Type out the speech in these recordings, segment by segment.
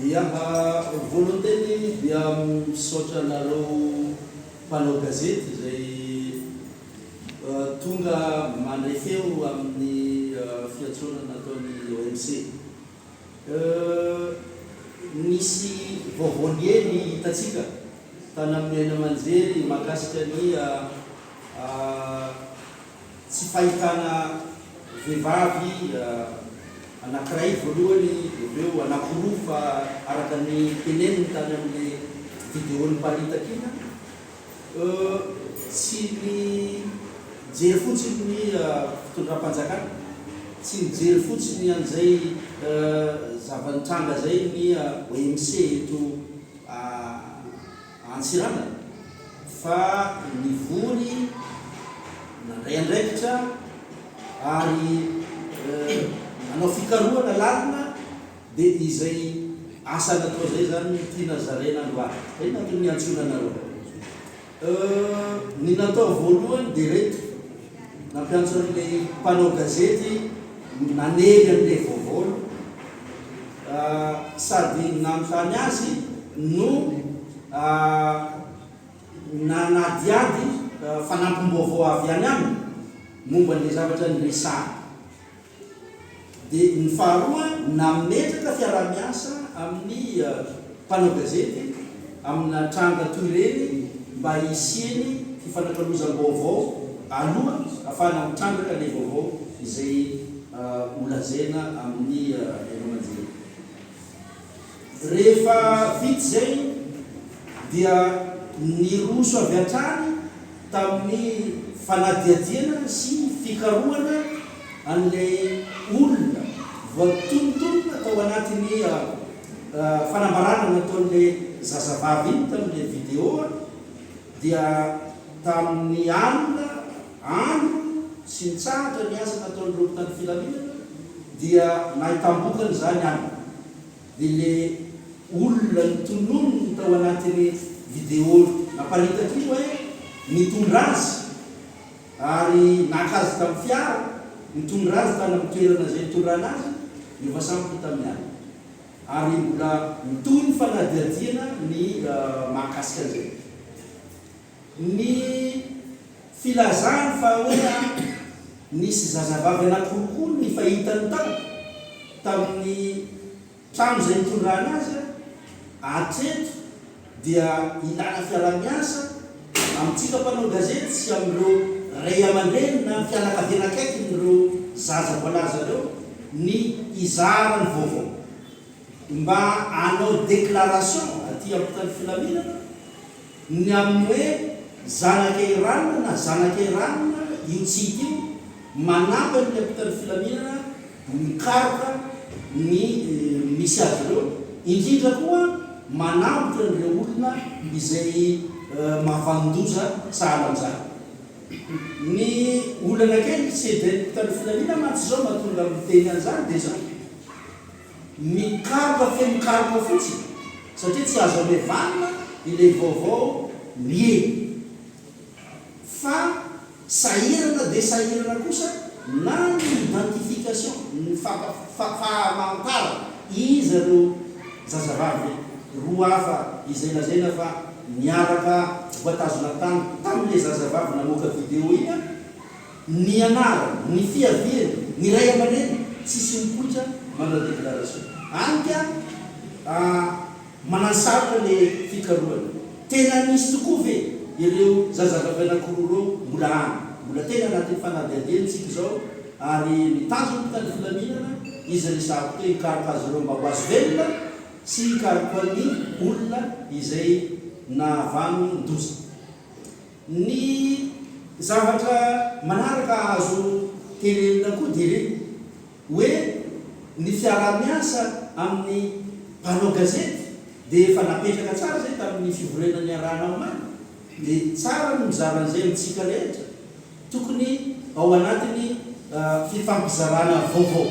Ia ah, Volonteniny dia misaotra anareo mpanao gazety izay tonga mandray feo amin'ny fiantsoana nataon'ny OMC. Euh, nisy vaovao liely hitantsika tany amin'ny haino aman-jery mahakasika ny ah. Tsy fahitana vehivavy anankiray voalohany dia avy eo anaporofo fa araka ny teneniny tany amin'ny video niparitaka iny an! Tsy nijery fotsiny ny fitondram-panjakana, tsy nijery fotsiny an'izay zava-nitranga izay ny OMC eto. Antsiranana fa nivory nandray andraikitra ary nanao fikarohana lalina dia izay asa natao izay izany no tiana zaraina androany. Izay no antony niantsoana anareo. Ny natao voalohany dia ireto. Nampiantso an'ilay mpanao gazety nanely an'ilay vaovaony sady nanontany azy no nanadihady fanampim-baovao avy any aminy momba an'ilay zavatra niresahany. Dia ny faharoa, nametraka fiaraha-miasa amin'ny mpanao gazety amina tranga toy ireny mba hisiany fifanakalozam-baovao aloha hahafahana mitrandraka ilay vaovao izay holazaina amin'ny haino aman-jery. Rehefa vita izay dia niroso avy hatrany tamin'ny fanadihadiana sy fikarohana an'ilay olona voatonontonona tao anatin'ny fanambarana nataon'ilay zazavavy iny tamin'ilay video dia tamin'ny alina andro sy nitsahatra ny asa nataon'ireo mpitandro filaminana dia nahitam-bokany izany any dia ilay olona notononiny tao anatin'ny video naparitaka iny hoe nitondra azy ary naka azy tamin'ny fiara nitondra azy tany amin'ny toerana izay nitondrana azy dia efa samy vita amin'ny alina ary mbola mitohy ny fanadihadiana ny mahakasika an'izay. Ny filazany fa hoe nisy zazavavy anankiroapolo ny fahitany tao tamin'ny trano izay nitondrana azy hatreto dia ilana fiaraha-miasa amintsika mpanao gazety sy amin'ireo ray aman-dreny na fianakaviana akaikin'ireo zaza voalaza ireo ny hizara ny vaovao mba hanao déclaration aty ampotan'ny filaminana Ny amin'ny hoe zanaka Iranina na zanaka Iranina io tsity io, manampy amin'ny ampitan'ny filaminana mikaroka ny misy azy ireo, indrindra koa manambotra an'ireo olona izay mavan-doza sahala amin'izany. Ny olana kely tsy hevery mpitan'ny filaminana mantsy izao mahatonga miteny an'izany dia izany. Mikaroka feno karma fotsiny satria tsy azo amevanina ilay vaovao miely fa sahirana dia sahirana kosa na ny identification, ny fampahamantarana iza ireo zazavavy roa hafa izay lazaina fa niaraka voatazona tany tamin'ilay zazavavy namoaka video iny an! Ny anarany, ny fiaviany, ny ray aman'reny, tsisy mikoitra manao déclaration. Any ka a manasarotra le fikarohana. Tena nisy tokoa ve ireo zazavavy anakiroa ireo? Mbola any, mbola tena anatin'ny fanadihadiana tsika izao ary ny tanjon'ny mpitandro filaminana izy resahako teo hikaroka azy ireo mba ho azo velona sy hikaroka ny olona izay nahavany ny doza. Ny zavatra manaraka azo tenenina koa dia ny hoe ny fiaraha-miasa amin'ny mpanao gazety dia efa napetraka tsara izay tamin'ny fivoriana niarahana omaly dia tsara ny mizara an'izay amintsika rehetra tokony ao anatin'ny fifampizarana vaovao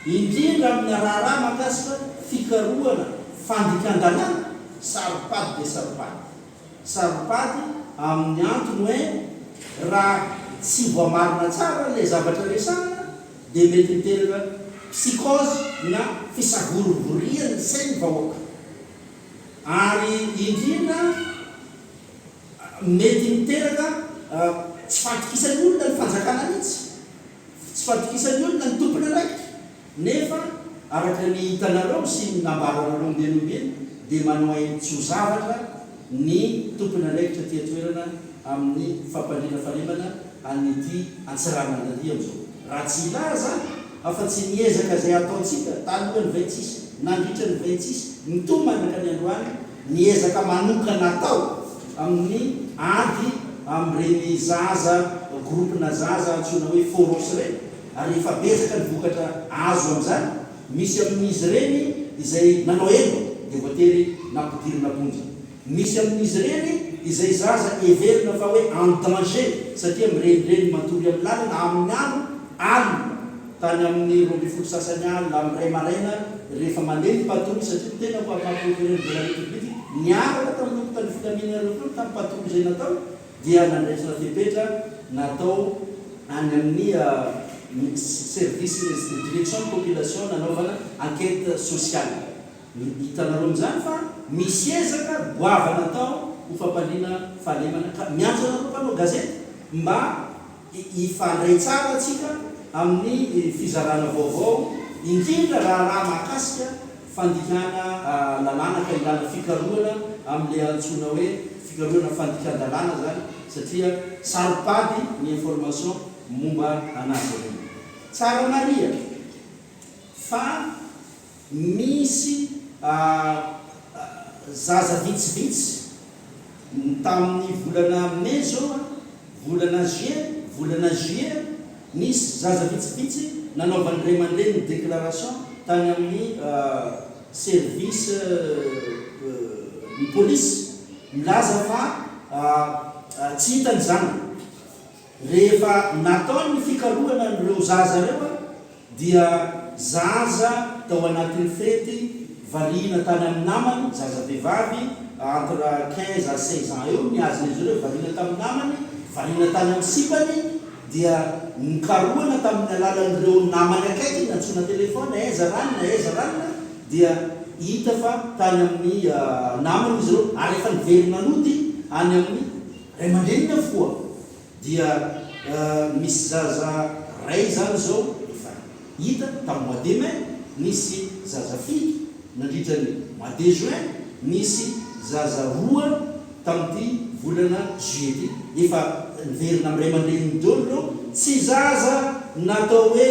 indrindra amina raharaha mahakasika fikarohana fandikan-dalàna saro-pady dia saro-pady. Saropady amin'ny antony hoe raha tsy voamarina tsara ilay zavatra resahina dia mety miteraka psychose na fisavorivorian'ny sain'ny vahoaka ary indrindra mety miteraka tsy fahatokisan'ny olona ny fanjakana mihitsy. Tsy fahatokisan'ny olona ny tompon'andraikitra, nefa araka ny hitanareo sy ny nambaranareo ombieny ombieny dia manao ainy tsy ho zavatra ny tompon'andraikitra aty an-toerana amin'ny fampandriana fahalemana an'ity Antsiranandalia amin'izao, raha tsy hilaza afa-tsy ny ezaka izay ataontsika talohan'ny vay tsisy, nandritra ny vay tsisy, mitomany ka ny androany Ny ezaka manokana atao amin'ny ady amin'ireny zaza, groupe-na zaza antsoina hoe Foros ireny ary efa betsaka ny vokatra azo amin'izany, misy amin'izy ireny izay nanao heloka dia voatery nampidirina am-ponja, misy amin'izy ireny izay zaza heverina fa hoe en danger satria mirenireny matory amin'ny lalana amin'ny andro alina. tany amin'ny roa ambin'ny folo sasany alina amin'ny iray maraina rehefa mandeha ny patrouille satria ny tenako ary maha procureur de la République niaraka tamin'ireo mpitandro filaminana ireo koa tamin'ny patrouille izay natao dia nandraisana fepetra natao any amin'ny service direction population nanaovana enquête sociale hitanareo amin'izany fa misy ezaka goavana atao ho fampaliana fahalemana ka miantso anareo mpanao gazety mba Hifandray tsara isika amin'ny fizarana vaovao, indrindra raharaha mahakasika fandikana lalàna ka ilana fikarohana amin'ilay antsoina hoe fikarohana fandikan-dalàna izany satria saro-pady ny information momba anazy ireny. Tsara mariha fa. Nisy zaza vitsivitsy tamin'ny volana Mai zao a, volana Juin, volana Juillet, nisy zaza vitsivitsy nanaovan'ny ray aman-dreniny déclaration tany amin'ny service ny polisy milaza fa tsy hita ny zanany. Rehefa natao ny fikarohana an'ireo zaza ireo dia zaza tao anatin'ny fety variana tany amin'ny namany, zaza vehivavy entre quinze à seize ans eo ny hazon'izy ireo, variana tamin'ny namany, variana tany amin'ny sipany dia nokarohana tamin'ny alalan'ireo namany akaikiny nantsoina téléphone, aiza ranona, aiza ranona, dia hita fa tany amin'ny namany izy ireo ary efa niverina nody any amin'ny Ray aman-dreniny avokoa dia misy zaza ray izany zao efa hita tamin'ny mois de mai nisy zaza fito nandritra ny mois de juin nisy zaza roa tamin'ity volana juillet ity efa niverina amin'ny ray aman-dreniny dolo ireo tsy zaza natao hoe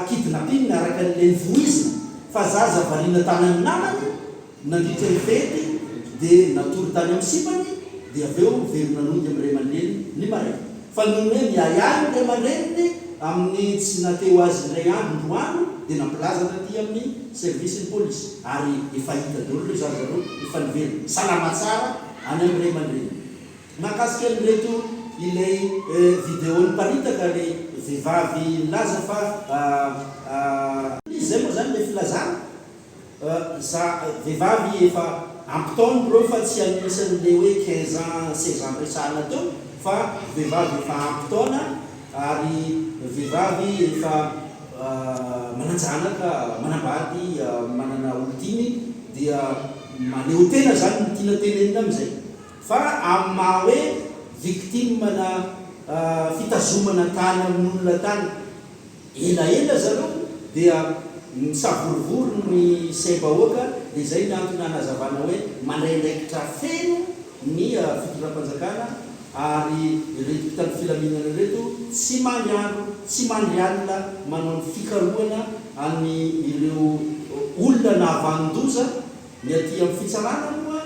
kidnapping araka an'ilay novoizina fa zaza variana tany amin'ny namany Nandritra ny fety dia natory tany amin'ny sipany dia avy eo very nanongy amin'ny ray aman-dreniny ny maraina. Fa noho ny hoe miahiahy ny ray aman-dreniny amin'ny tsy nateo azy indray andro ny roa andro dia nampilaza taty amin'ny servisin'ny polisy ary efa hita daholo ireo zaza ireo efa niverina salama tsara any amin'ny ray aman-dreniny. Mahakasika an'ireto ilay video niparitaka ilay vehivavy nilaza fa. Izay moa izany ilay filazana? Za vehivavy efa ampy taona bro fa tsy anisan'ny le hoe quinze ans seize ans niresahana teo fa vehivavy efa ampy taona ary vehivavy efa manan-janaka, manambady, manana olon-tiany dia maneho tena zany ny tiana tenenina amin'izay fa amin'ny maha hoe victime-na fitazomana tany amin'olona tany. Elaela zareo dia misavorovoro ny saim-bahoaka dia izay ny antony hanazavana hoe mandraindraikitra feno ny fitondram-panjakana ary ireto mpitandro filaminana ireto tsy mandry andro tsy mandry alina manao ny fikarohana any ireo olona nahavanon-doza, ny aty amin'ny fitsarana moa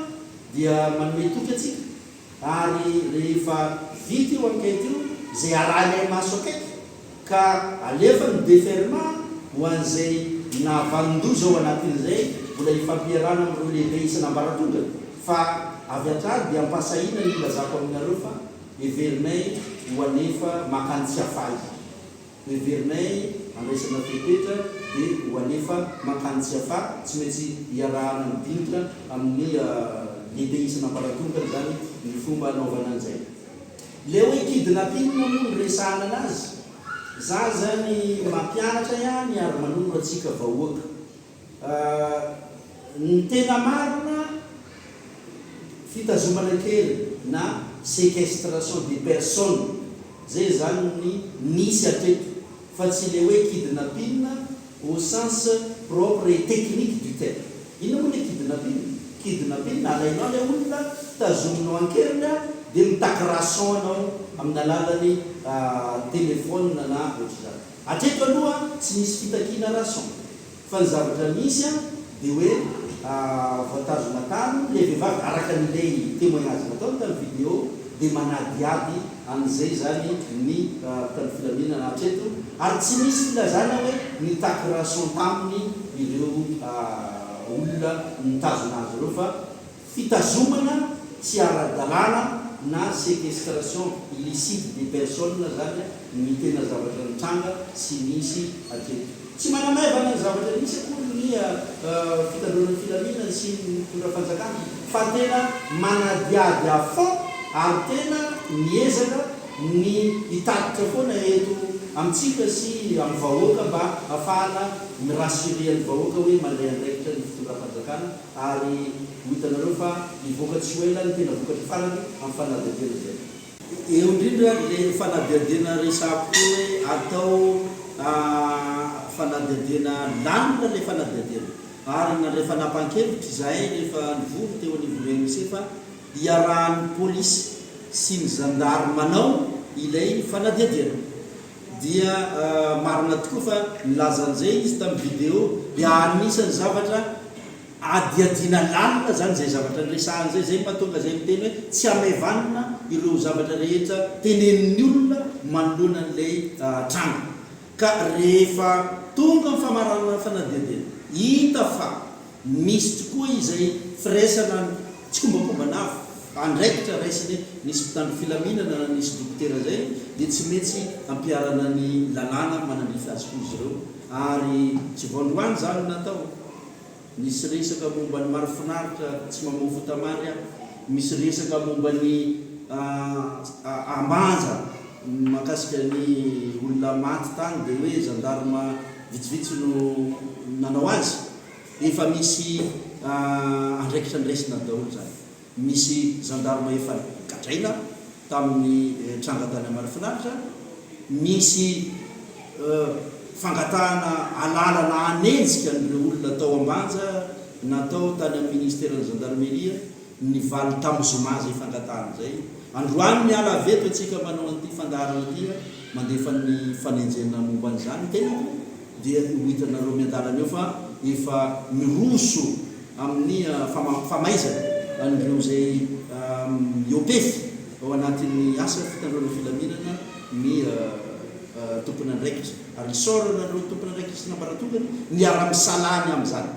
dia manome toky antsika. Ary rehefa vita io enquête io, izay arahinay maso akaiky, ka alefan'ny Deferma ho an'izay nahavanon-doza ao anatiny izay, mbola hifampiarahana amin'ireo lehibe isan'ambaratonga, fa avy hatrany dia ampahasahiana ny ilazako aminareo fa heverinay ho hanefa makany Tsiafahy. Heverinay handraisana fepetra dia ho alefa mankany Tsiafahy, tsy maintsy iarahana midinika amin'ny lehibe isana amparatompony izany ny fomba anaovana an'izay. Ilay hoe kidnapping moa no resahana anazy, za izany mampianatra ihany ary manoro antsika vahoaka. Ny tena marina, fitazomana kely na sequestration de personne zay izany ny nisy hatreto fa tsy le hoe kidnapping au sens propre et technique du terme. Inona moa le kidnapping? Kidnapping, alainao le olona, tazominao an-keriny dia mitaky rançon anao amin'ny alalan'ny telephone na ohatr'izany. Hatreto aloha tsy nisy fitakiana rason, fa ny zavatra misy an dia hoe voatazona tany ilay vehivavy araka an'ilay temoignage nataony tamin'ny video dia manadihady an'izay izany ny mpitandro filaminana hatreto ary tsy misy filazana hoe nitaky rason taminy ireo olona nitazona azy ireo fa Fitazomana tsy ara-dalàna na séquestration illicite des personnes zany ny tena zavatra nitranga sy nisy hatreto. Tsy manamaivana ny zavatra nisy akory ny fitandroana ny filaminana sy ny mpitondra fanjakana fa tena manadihady à fond ary tena miezaka ny hitatitra foana eto amintsika sy amin'ny vahoaka mba hafahana mi-rassurer ny vahoaka hoe mandray andraikitra ny fitondram-panjakana Ary ho hitanareo fa hivoaka tsy ho ela ny tena vokatry farany amin'ny fanadihadiana izay atao. Eo indrindra ilay fanadihadiana resahako teo hoe atao fanadihadiana lalina ilay fanadihadiana. Ary nandray fanapahan-kevitra izahay rehefa nivory teo anivon'ny OMC fa hiarahan'ny polisy sy ny zandary manao ilay fanadihadiana. Dia marina tokoa fa nilaza an'izay izy tamin'ny video, dia anisan'ny zavatra adihadiana lalina izany izay zavatra niresahany izay, izay no mahatonga izay miteny hoe tsy hamaivanina ireo zavatra rehetra tenenin'ny olona manoloana an'ilay tranga. Ka rehefa tonga amin'ny famaranana ny fanadihadiana, hita fa. Misy tokoa izay firaisana ny tsikombakomban'afo, andraikitra raisiny hoe nisy mpitandro filaminana na nisy dokotera izay dia tsy metsy hampiharana ny lalàna manandrify azy koa izy ireo ary tsy vao androany izany no natao. Nisy resaka momba ny marifinaritra tsy mamoa fotamary aho, misy resaka momba ny ambanja mahakasika ny olona maty tany dia hoe zandarima vitsivitsy no nanao azy. Efa misy andraikitra niraisina daholo izany. Misy zandarma efa gadraina tamin'ny tranga tany Amarifinaritra. Nisy fangatahana alalana hanenjika an'ireo olona tao Ambanja natao tany amin'ny ministeran'ny zandarmeria. Nivaly tamin'ny zoma izay fangatahana izay. Androany miala avy eto isika manao an'ity fandaharana ity mandefa ny fanenjehana momba an'izany. Tena dia ho hitanareo miandalana eo fa efa miroso amin'ny famaizana an'ireo izay miopefy ao anatin'ny asa fitandroana filaminana ny tompon'andraikitra ary misaorana anareo tompon'andraikitry ny ambaratongany miara-misalahy ny amin'izany.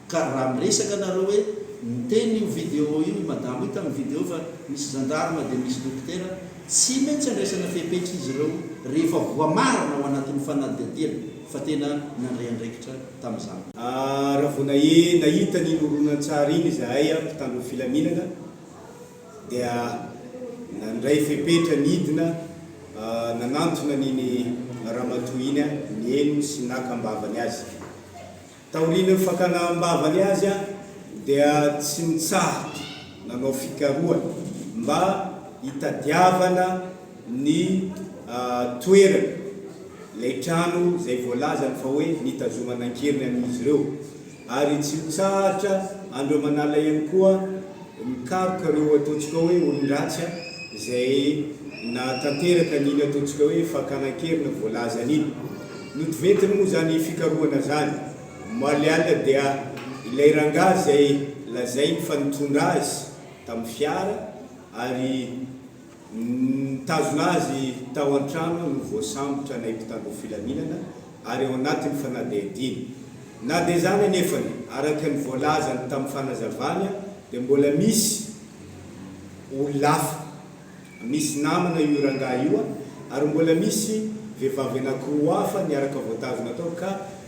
Ka raha miresaka nareo hoe niteny io video io i madama io tamin'ny video fa misy zandarma dia misy dokotera, tsy maintsy andraisana fepetra izy ireo rehefa voamarina ao anatin'ny fanadihadiana fa tena nandray andraikitra tamin'izany. Raha vao nahita an'iny horonantsary iny izahay mpitandro ny filaminana dia nandray fepetra nidina nanantona an'iny ramatoa iny, nihaino sy naka am-bavany azy. Taorian'ny fakana am-bavany azy dia tsy nitsahatra nanao fikarohana mba hitadiavana ny toerana ilay trano izay voalazany fa hoe nitazomana an-keriny an'izy ireo ary tsy nitsahatra andreo manala ihany koa Mikaroka ireo ataontsika hoe olon-dratsy izay nahatanteraka an'iny ataontsika hoe fakana an-keriny voalazany iny. Notiventiny moa izany fikarohana izany omaly alina dia ilay rangahy izay lazainy fa nitondra azy tamin'ny fiara ary. Nitazona azy tao an-trano no voasambotra nay mpitandro filaminana ary ao anatin'ny fanadihadiana. Na dia izany anefany, araka ny voalazany tamin'ny fanazavana dia mbola misy olona hafa. Misy namana io rangahy io ary mbola misy vehivavy anankiroa hafa niaraka voatazona tao ka